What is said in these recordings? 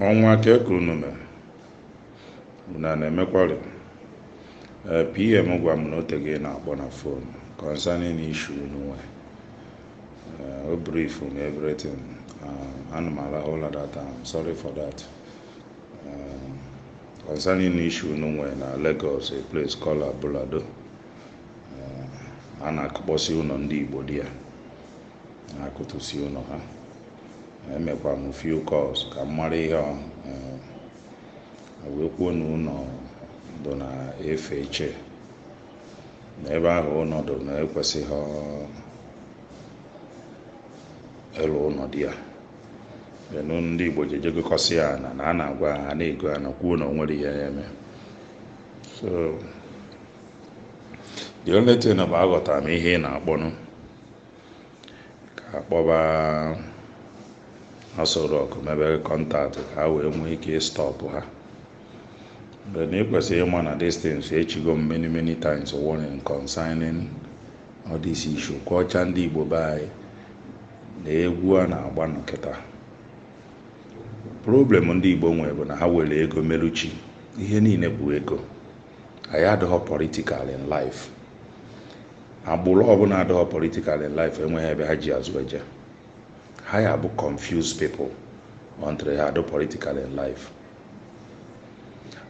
ọnwa ka e kwuru n'ume na na-emekwari ee PA m gwa m na ote gị na-akpọ na fon concerning issue unu nwe o brief m everything ana m arahụ ụla that time sorry for that Um, concerning issue unu nwere na Lagos a place called Abule Ado um, a na-akụkpọsị ụlọ ndị Igbo dị ya na-akụtụsi ụlọ ha emekwa m few calls ka m mara ihe ọ um, wee kwuo na ụlọ dụ na efe iche na ebe ahụ ụlọ dụ na ekwesịghị ịlụ ụlọ dị ya enu ndị igbo jee gokọsị ya na na a na-agwa ha na-ego ana kwuo na o nwere ihe ya eme so the only thing bụ aghọtara m ihe ị na-akpọnụ ka a kpọba Aso Rock mebe contact ka ha wee nwee ike ịstọpụ ha but na i kwesịrị ịma na this thing echigo m many many times warning concerning all this issue kọcha ndị igbo be anyị na egwu a na-agba nụ kịta problem ndị igbo nwere bụ na ha were ego meru chi ihe niile bụ ego anyị adịghọ political in life agbụrụ ọbụla adịghọ political in life enweghị ebe ha ji azụ eje ha ya bụ confuse people until ha adụ political in life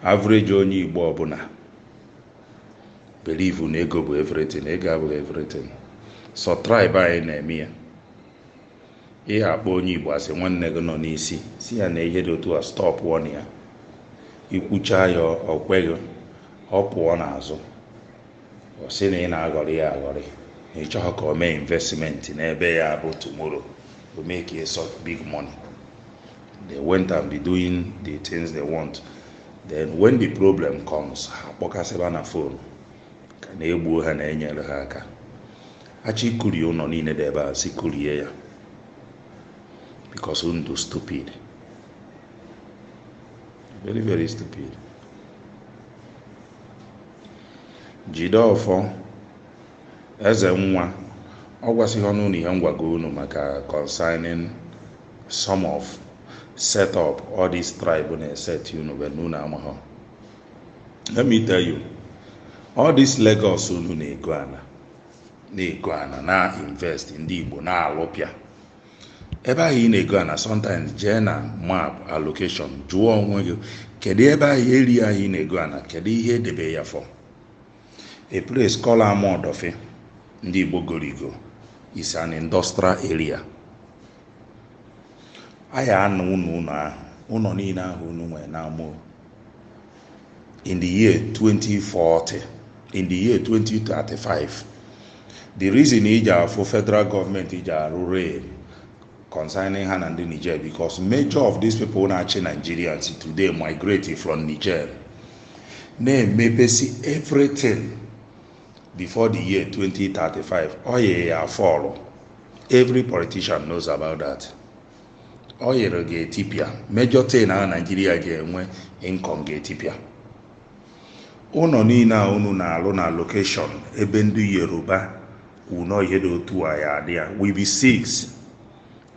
average onye igbo ọbụla believe na ego bụ everything ego abụghị everything sọ tribe anyị na-eme ya ị ya-akpọ onye igbo a sị nwanne gị nọ n'isi si ya na ihe dị otu a stop wọn ya i kwucha ya o kweghị ọ pụọ n'azụ ọ sị na ị na-aghọrị ya aghọrị na ị chọghị ka o mee investment n'ebe ya bụ tomorrow o mee ka ịsọ big money they went and be doing the things they want then when the problem comes ha kpọkasịba na fon ka na e gbuo ha na-enyere ha aka a chọ ikurie ụlọ niile dị ebe a si kurie ya because unu dụ stupid very very stupid jide ọfọ eze nwa ọ gwasịghị unu na ihe m gwago unu maka concerning some of set up all these tribe na-eset unu but na unu amaghọ let me tell you all this Lagos unu na-ego ana na-ego ana na-invest ndị Igbo na-alụpịa ebe ahụ ị na-ego ana sometimes jee na map allocation jụọ onwe gị kedu ebe ahụ area ahụ ị na-ego ana kedu ihe e debe ya for A place called Amuwo Odofin, ndị Igbo gorigo, is an industrial area. A ya ana unu ụnọ ahụ, ụnọ niile ahụ unu nwere n'Amuwo. In the year 2040, in the year 2035, the reason i ji afụ federal government ji arụ rail concerning ha na ndị Niger because major of these people na-achị Nigerians today migrated from Niger. na-emepesi everything before the year 2035 oil ya a-fall every politician knows about that oil ga-etipịa major thing a naijiria ga-enwe income ga-etipịa ụnọ niine a unu na-alụ na location ebe ndị yoruba kwuru na ihe dị otu a ya adị ya will be seized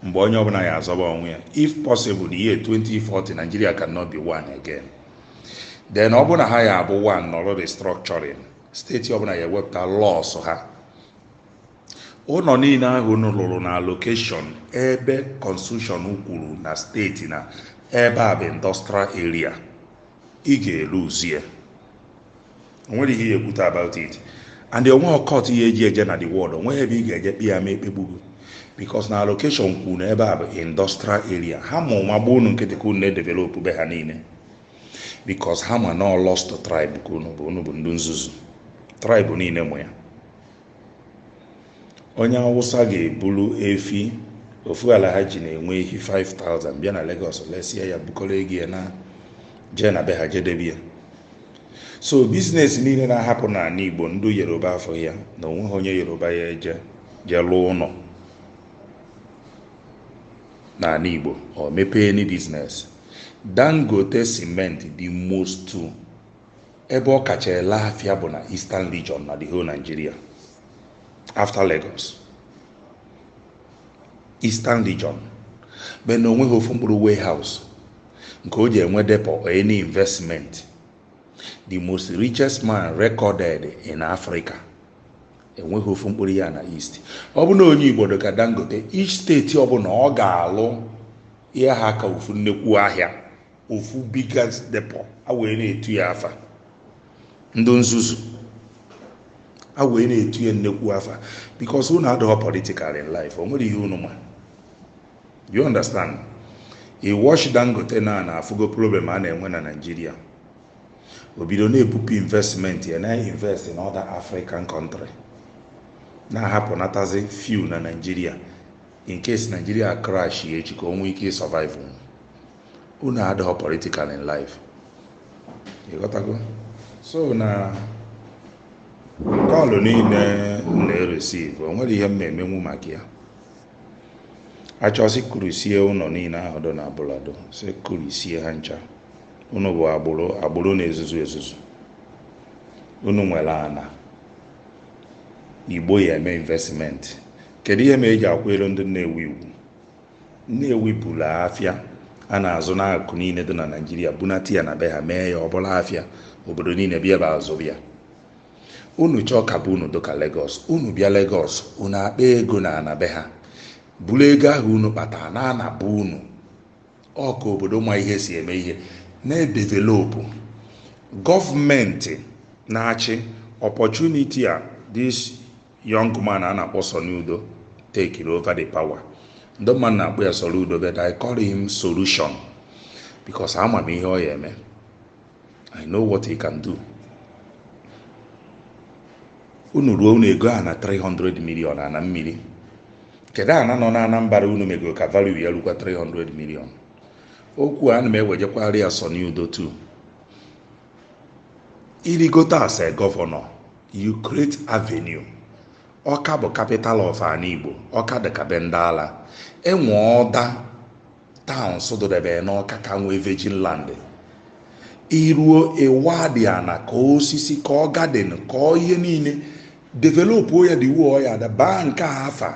mgbe onye ọbụla ya azọba onwe ya if possible the year 2040 Nigeria cannot be one again then ọ bụ na ha ya abụ one nọrọ restructuring steeti ọbụla ya ewepụta laws ha ụnọ niile ahụ unu lụrụ na location ebe constitution kwuru na steeti na ebe a bụ industrial area ị ga-eluzie o nwere ihe ya ekwute about it and onweghị court ya eji eje na the world onweghị ebe ị ga-eje kpe ya ma ekpegbugo because na allocation kwuru na ebe a bụ industrial area ha ma ụma gba unu nkịtị ka unu na-edevelopụ be ha niile because ha ma na lost tribe ka unu bụ unu bụ ndị nzuzu tribe niile ma ya onye awụsa ga-eburu efi ofu Alhaji na-enwe ehi 5000 bịa na Lagos lesie ya bukọrọ ego ya naa jee na be ha jee debe ya so biznes niile na-ahapụ n'anị Igbo ndị Yoruba afụ ya na onweghị onye Yoruba ya eje jee lụọ ụnọ n'anị Igbo or mepee any biznes Dangote cement the most ebe ọ kacha ele afịa bụ na Eastern Region na the whole Nigeria after Lagos Eastern Region but na onweghị ofu mkpụrụ warehouse nke o ji enwe depo or any investment the most richest man recorded in Africa enweghị ofu mkpụrụ ya na East ọ bụ na onye Igbo dị ka Dangote each steeti ọbụla ọ ga-alụ ihe ha ka ofu nnekwu ahịa ofu biggest depo a wee na-etu ya afa ndị nzuzu a wee na-etu ya nnekwu afa bikos unu adịghọ politikal in life o nwere ihe unu ma you understand ị watch dangote na na afụgo problem a na-enwe na naijiria o bido na-ebupụ investment ya na invest in other african country na-ahapụ natazi few na naijiria in case naijiria crashie echi ka o nwee ike ịsọvive unu adịghị political in life ịghọtago so na call niile m na-ereceive o nwere ihe m na-emenwu maka ya a chọọ sị kụrisie ụlọ niile ahụ dọ na Abule Ado sị kụrisie ha ncha unu bụ agbụrụ na-ezuzu ezuzu unu nwere ana Igbo ya eme investment kedu ihe m eji akwanyelu ndị Nnewi ugwu Nnewi buru afịa a na-azụ n'akụkụ niile dị na Naịjirịa bunata ya na be ha mee ya ọ bụrụ afịa obodo niile bịa ebe azụ bịa unu chọọ ka be unu dịka Lagos unu bịa Lagos unu akpa ego na ana be ha buru ego ahụ unu kpatara naa na be unu ọ ka obodo ma ihe si eme ihe na-edevelopụ gọọmenti na-achị opportunity a this young man a na-akpọ Soludo takere over the power ndị mmadụ na-akpọ ya Soludo but I call him solution because ama m ihe ọ ya eme I know what he can do unu ruo unu egoo ana 300 million ana mmiri kedu ana nọ na Anambra unu megoro ka value ya rukwa 300 million okwu a ana m ewejekwara ya Soludo too irigote as a governor You create avenue. Ọka bụ capital of ana Igbo. Ọka dị ka be ndị ala. Enwe other towns dụdebere n'Ọka ka nwee virgin land. Iruo ịwadị ana kọọ osisi kọọ garden kọọ ihe niile developuo ya dị wuo ya ada baa nke a afa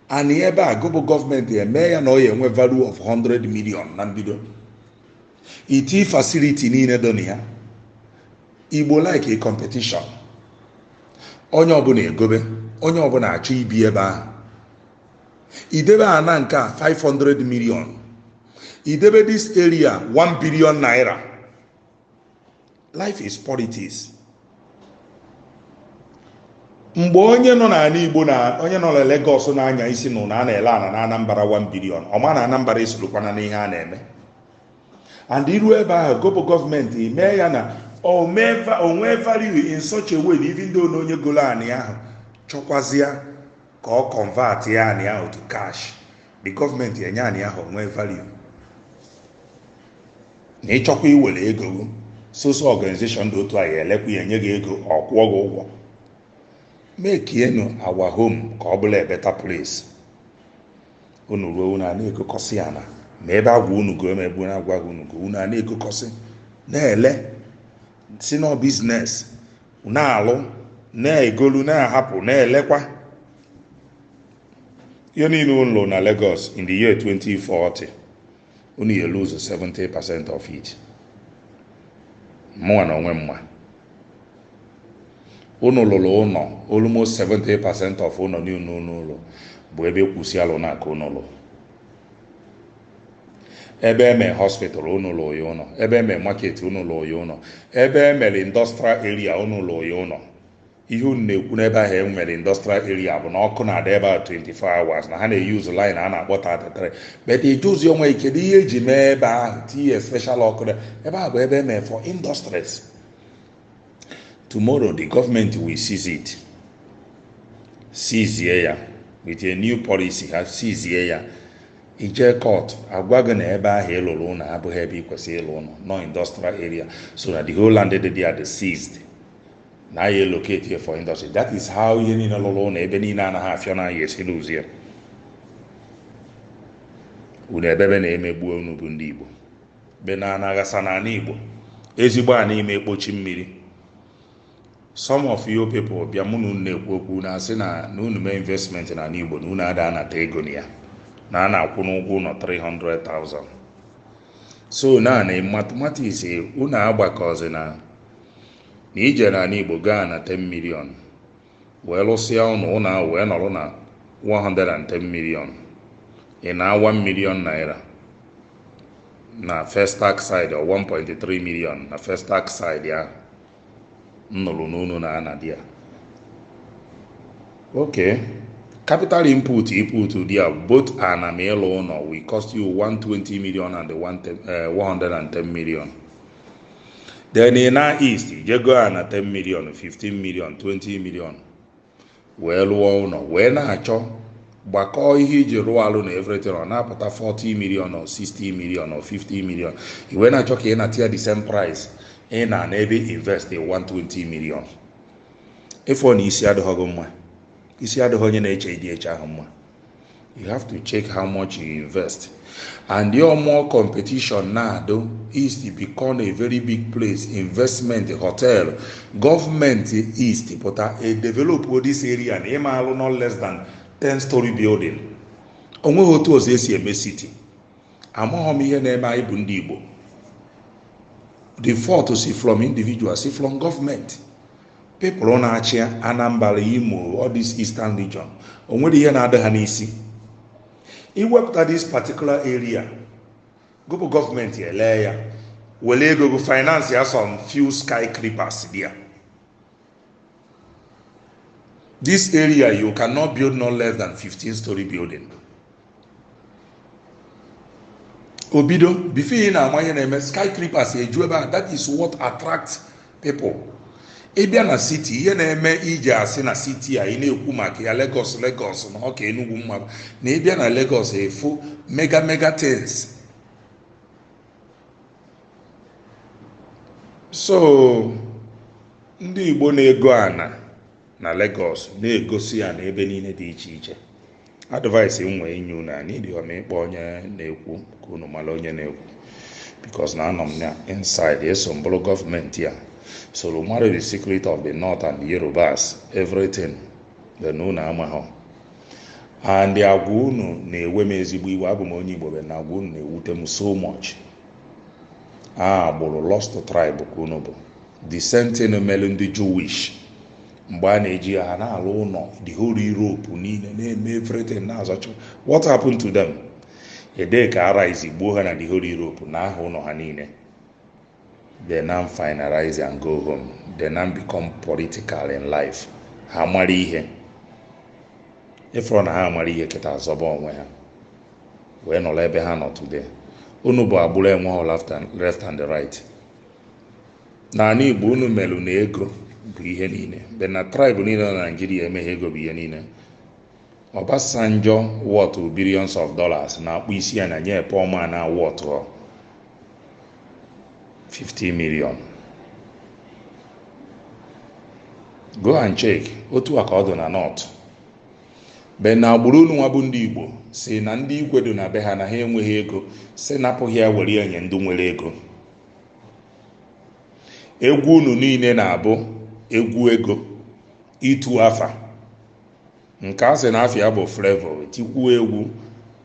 ana ebe a gị bụ gọọmenti eme ya na ọ ya enwe value of 100 million na mbido itii facility niile dọ na ya Igbo like competition onye ọbụla egobe onye ọbụla achọ ibi ebe ahụ idebe ana nke a 500 million idebe this area 1 billion naira life is politics mgbe onye nọ n'ana Igbo na onye nọ na Lagos na-anya isi nụ na a na-ele ana na Anambra 1 billion ọ ma na Anambra esorokwana n'ihe a na-eme and iru ebe ahụ gị bụ gọọmenti mee ya na o nwee value in such a way na even though na onye golo anị ahụ chọkwazịa ka ọ convertịa anị ahụ to cash the gọọmenti enye anị ahụ nwee value na ịchọkwa iwere ego gị so so organization dị otu a ya elekwa ya enye gị ego ọ kwụọ gị ụgwọ makienụ our home ka ọ bụlụ a better place unu ruo unu a na-egokọsị ana ma ebe agwa unu go ma ebe a na-agwaghị unu go unu a na-egokọsị na-ele sị na ọ business na-alụ na-egolu na-ahapụ na-elekwa ihe niile unu lụrụ na Lagos in the year 2040 unu ya lose 70 percent of it mụnwa na onwe m ma unu lụrụ ụlọ almost 70 percent of ụlọ niile unu lụrụ bụ ebe e kwu sị alụna ka unu lụrụ ebe eme hospital unu lụrụ ya ụlọ ebe eme market unu lụrụ ya ụlọ ebe e mere industrial area unu lụrụ ya ụlọ ihe unu na-ekwu n'ebe ahụ e nwere industrial area bụ na ọkụ na-adị ebe a 24 hours na ha na-use line a na-akpọ 33 but ị jụzi onwe gị kedu ihe e ji mee ebe ahụ tinye special ọkụ dị ebe ahụ bụ ebe e mere for industries tomorrow the government will seize it seize ya with a new policy ha seize ya i jee court a gwa gị na ebe ahụ ị lụrụ ụlọ abụghị ebe ị kwesịrị ịlụ ụlọ na ọ industrial area so na the whole land dị there dị seized na anyị elocate ya for industry that is how ihe niile lụrụ ụlọ ebe niile anaghị afịa na ya esi lose ya unu ebebe na a na-emegbu unu bụ ndị igbo be na ana ghasa n'ala igbo ezigbo a n'ime ekpochi mmiri some of you people bịa mụ na unu na-ekwu okwu na-asị na na unu mee investment na ala igbo na unu ada anata ego na ya na a na-akwụ unu ụgwọ ụlọ 300,000 so na na mathematics unu agbakọzi na na i jee n'ala Igbo goo ana 10 million wee lụsịa ụnọ ụnọ ahụ wee nọrọ na 110 million ị naa 1 million naira na Festac side or 1.3 million na Festac side ahụ m nụrụ na unu na-anadị ya okay capital input input there both ana ma ịlụ ụlọ will cost you 120 million and the 110, eh, 110 million then ị naa east i jee goo ana 10 million 15 million 20 million wee lụọ ụlọ wee na-achọ gbakọọ ihe i ji rụọ alụ na everything ọ na-apụta 40 million or 60 million or 50 million i wee na-achọ ka ị nata ya the same price ị na-ana ebe ị invest 120 million ị fụ na isi adịghị gị mma isi adịghị onye na-eche ụdị eche ahụ mma you have to check how much you invest and your more competition na-adụ east become a very big place investment hotel government east pụta a develop this area na ị ma alụ not less than 10 story building o nweghị otu ọzọ e si eme city amaghị m ihe na-eme anyị bụ ndị igbo the fault si from individual si from government people na-achị anambra imo all this eastern region o nwere ihe na-adị ha n'isi iwepụta this particular area gopụ gọọmenti elee ya were ego go finance ya some few skyscrapers there this area you cannot build no less than 15 story building o bido before ị na-ama ihe na-eme skyscrapers eju ebe a that is what attracts people ịbịa na city ihe na-eme e ji asị na city a ị na-ekwu maka ya Lagos Lagos na ọ ka Enugu mma na ị bịa na Lagos ị fụ mega mega things so ndị Igbo na-ego ana na Lagos na-egosi ya na ebe niile dị iche iche advice m nwe inye unu aneedighọ m ịkpọ onye na-ekwu ka unu mara onye na-ekwu because na anọ m na inside eso m bụrụ gọọmenti a soro mara the secret of the north and the yorubas everything then unu amaghọ and agwa unu na-ewe m ezigbo iwe abụ m onye igbo but na agwa unu na-ewute m so much agbụrụ lost tribe ka unu bụ the same thing mere ndị jewish mgbe a na-eji ha na-alụ ụlọ the whole europe niile na-eme everything na-azụcha what happened to them ede ka arise gbuo ha na the whole europe naa ha ụlọ ha niile they now finalize and go home they now become political in life ha mara ihe ị fụrọ na ha mara ihe kịtaa zọba onwe ha wee nọrọ ebe ha nọ today unu bụ agbụrụ enweghọ left and- left and right n'ala igbo unu melụ na ego bụ ihe niile but na tribe niile na naijiria emeghị ego bụ ihe niile ọbasanjọ worth billions of dollars na-akpọ isi ana nye poor man na-aworthughọ 50 million go and check otu a ka ọ dị na north but na agbụrụ unu nwa bụ ndị igbo sị na ndị igwe dị na be ha na ha enweghị ego sị napụ ha ya were nye ndị nwere ego egwu unu niile na-abụ egwu ego itu afa nke a sị na afa ya bụ flavour tikwuo egwu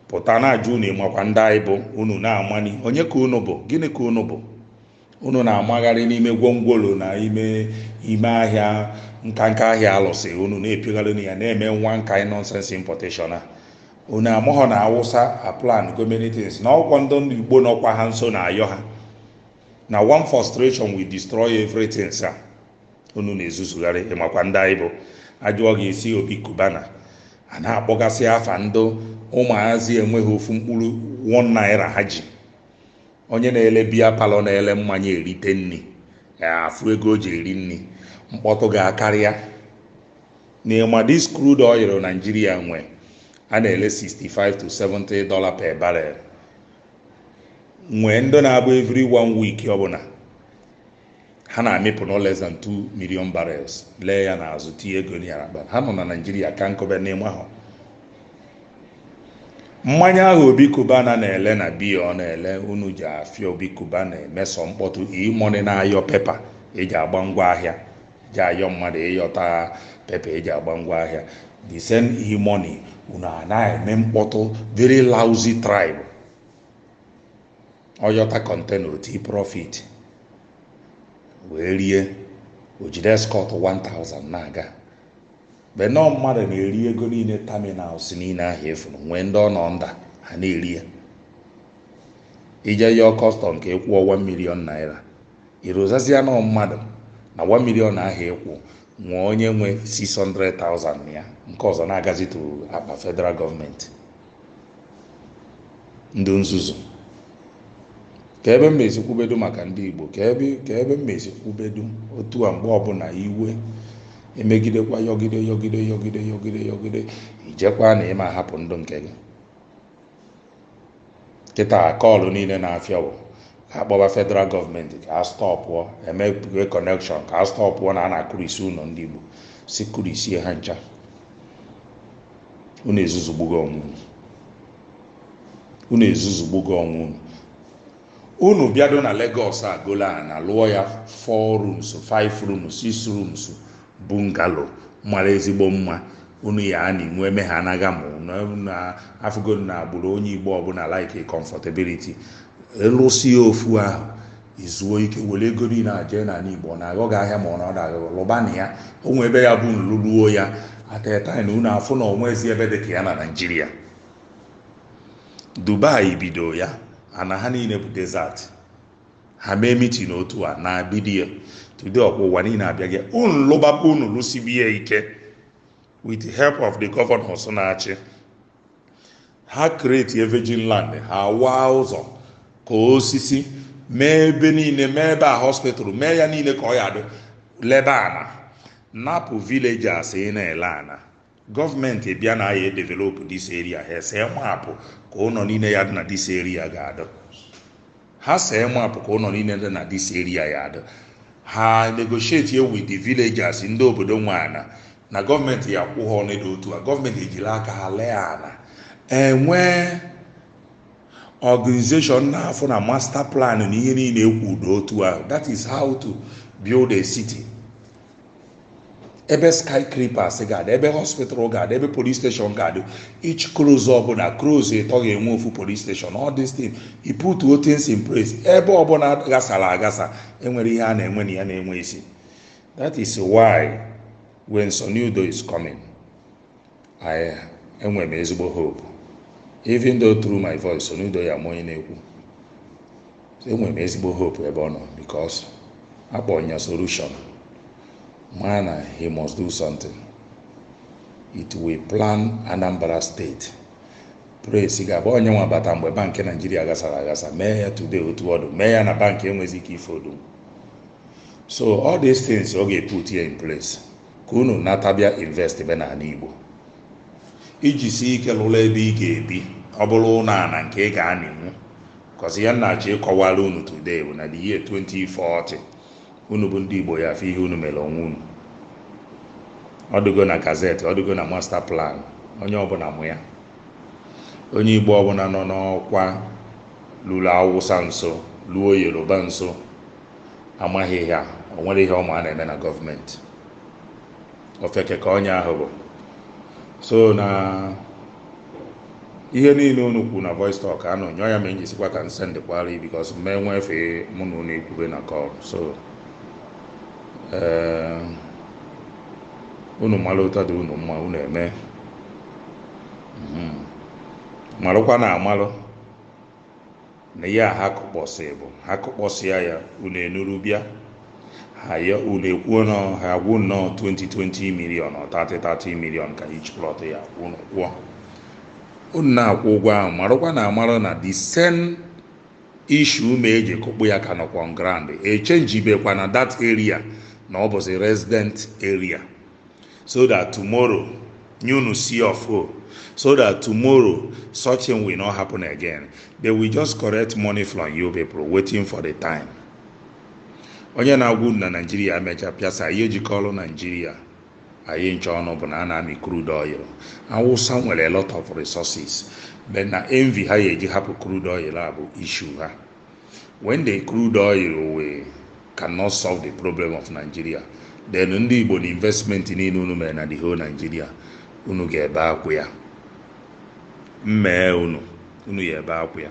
pụta na-ajụ unu ị makwa ndị anyị bụ unu na-amani onye ka unu bụ gịnị ka unu bụ unu na-amagharị n'ime gwongworo na ime ime ahịa nkanka ahịa alụsị unu na-epiogharị na ya na-eme nwa nka nonsense importation a unu amaghọ na awụsa aplango many things na ọkwa ndị ndị igbo nọkwa ha nso na-ayọ ha na one frustration will destroy everything sa unu na-ezuzugharị ị makwa ndị anyị bụ a jụọ gị ị sị obi cubana a na-akpọgasị afa ndị ụmụazị enweghị ofu mkpụrụ one naira ha ji onye na-ele biya palọ na-ele mmanya erite nni afụ ego o ji eri nni mkpọtụ ga-akarị ya n'ịma this crude oil naijiria nwe a na-ele 65 to 70 dollar per barrel nwee ndị na-abụ every one week ọbụla ha na-amịpụ no less than 2 million barrels lee ya n'azụ tinye ego na ya n'akpa ha nọ na naijiria ka nkọbe n'ime ahụ mmanya ahụ obi cubana na-ele na biya ọ na-ele unu ji afịa obi cubana eme sọ mkpọtụ e-money na-ayọ pepa eji agba ngwa ahịa ji ayọ mmadụ ịyọta pepa eji agba ngwa ahịa the same e-money unu na-eme mkpọtụ very lousy tribe ọyọta kọntena oti profit wee rie ojide escort 1000 na-aga but nọọ mmadụ na-eri ego niile terminals niile ahụ efuru nwee ndị ọ nọ nda ha na-eri ya ije yọọ kọstọm ka ịkwụọ 1 million naira irozazia nọọ mmadụ na 1 million ahụ ịkwụ nwee onye nwe 600,000 ya nke ọzọ na-agazi to akpa federal gọọmenti ndị nzuzu ka ebe m ezikwubedu maka ndị igbo ka ebe m ezikwubedu otu a mgbe ọbụla iwe emegidekwa yọgide yọgide yọgide yọgide yọgide ijekwa na ịma hapụ ndụ nke gị kịta kọlụ niile na-afịa bụ ka akpọba federal gọọmenti ka a stọpụọ emepụe kọnekshọn ka a stọpụọ na a na-akụrisi ụlọ ndị igbo si kụrisie ha ncha unu ezuzugbugo onwe unu unu ezuzugbugo onwe unu unu bịado na Lagos a golu ana lụọ ya 4 rooms 5 rooms 6 rooms bungalow mara ezigbo mma unu ya a na-enwe eme ha anaghị ma unu na afụgo na agbụrụ onye Igbo ọbụla like comfortability lụsie ofu ahụ izuo ike were ego niile a jee n'ala igbo ọ na-aghọ gị ahịa ma ọ na ọ na-aghọghị lụba na ya o nwee ebe ya bụ nlụluo ya ateta na unu afụ na onwezi ebe dị ka ya na naijiria dubai bido ya ana ha niile bụ desert ha mee mitin otu a na bidio today ọkwa ụwa niile abịa gị unu lụbakwa unu lụsiba ya ike with the help of the governors na-achị ha create a virgin land ha waa ụzọ ka osisi mee ebe niile mee ebe a hospital mee ya niile ka ọ ya dị lebe ana napụ villagers ị na-ele ana gọọmenti bịa na ya develop this area ha ese mapụ ka ụlọ niile ya dị na this area ga-adị ha see mapụ ka ụlọ niile dị na this area ya adị ha negotiate with the villagers ndị obodo nwe ana na gọọmenti ya kwụ ha ọnịda otu a gọọmenti ejiri aka ha lee ana enwee organization na-afụ na master plan na ihe niile ekwudo otu ahụ that is how to build a city ebe skyscrapers ga-adị ebe hospital ga-adị ebe police station ga-adị each close ọbụla close ịtọ ga-enwe ofu police station all this thing you put all things in place ebe ọbụla gasara agasa enwere ihe a na-enwe na ya na-enwe isi that is why when Soludo is coming I enwere m ezigbo hope even though through my voice Soludo ya ma onye na-ekwu enwere m ezigbo hope ebe ọ nọ because akpọrọ ya solution mana he must do something it will plan Anambra State praise God ọ bụ ya nwa bata mgbe bankị naijiria gasara agasa mee ya today otu ọ dụ mee ya na bankị enweghịzi ike ịfold so all these things ọ ga-eput ya in place ka unu nata bịa invest be n'ala Igbo i jisie ike lụrụ ebe ị ga-ebi ọ bụrụ ụlọ ala nke ị ga-anịnwu because ihe m na-achọ ịkọwara unu today bụ na the year 2040 unu bụ ndị Igbo ya afụ ihe unu mere onwe unu ọ dịgo na gazeti ọ dịgo na master plan onye ọbụla mụ ya onye Igbo ọbụla nọ n'ọkwa lụrụ Awụsa nso lụọ Yoruba nso amaghị ya o nwere ihe ọma a na-eme na gọọmenti ofeke ka onye ahụ bụ so na ihe niile unu kwu na voice talk anụ nyụọ ya ma enyi sikwa ka m sendịkwara ya because m ma enwe efe mụ na unu ekwube na call so ee unu mara otu ọ dị unu mma unu eme Mhm. marụkwa na amalụ Na ya ha kụkpọsị bụ ha kụkpọsịa ya unu enuru bịa ha ya unu ekwuo na ha gwa unu ọ 20 20 million or 30 30 million ka each plot ya unu kwụọ unu na-akwụ ụgwọ ahụ marakwa na amara na the same issue mee e ji kụkpụ ya ka nọkwa on ground echenjibekwa na that area na ọ bụzi resident area so that tomorrow nye unu si ọfụ so that tomorrow such thing will not happen again they will just collect money from you people waiting for the time onye na-agwa unu na naijiria mecha pịasa ihe jikọrọ naijiria anyị ncha ọnụ bụ na a na-amị crude oil awụsa nwere a lot of resources but na envy ha ya eji hapụ crude oil a bụ issue ha when the crude oil we cannot solve the problem of Nigeria then ndị Igbo na investment niile unu mere na the whole Nigeria unu ga-ebe akwa ya mmee unu unu ga-ebe akwa ya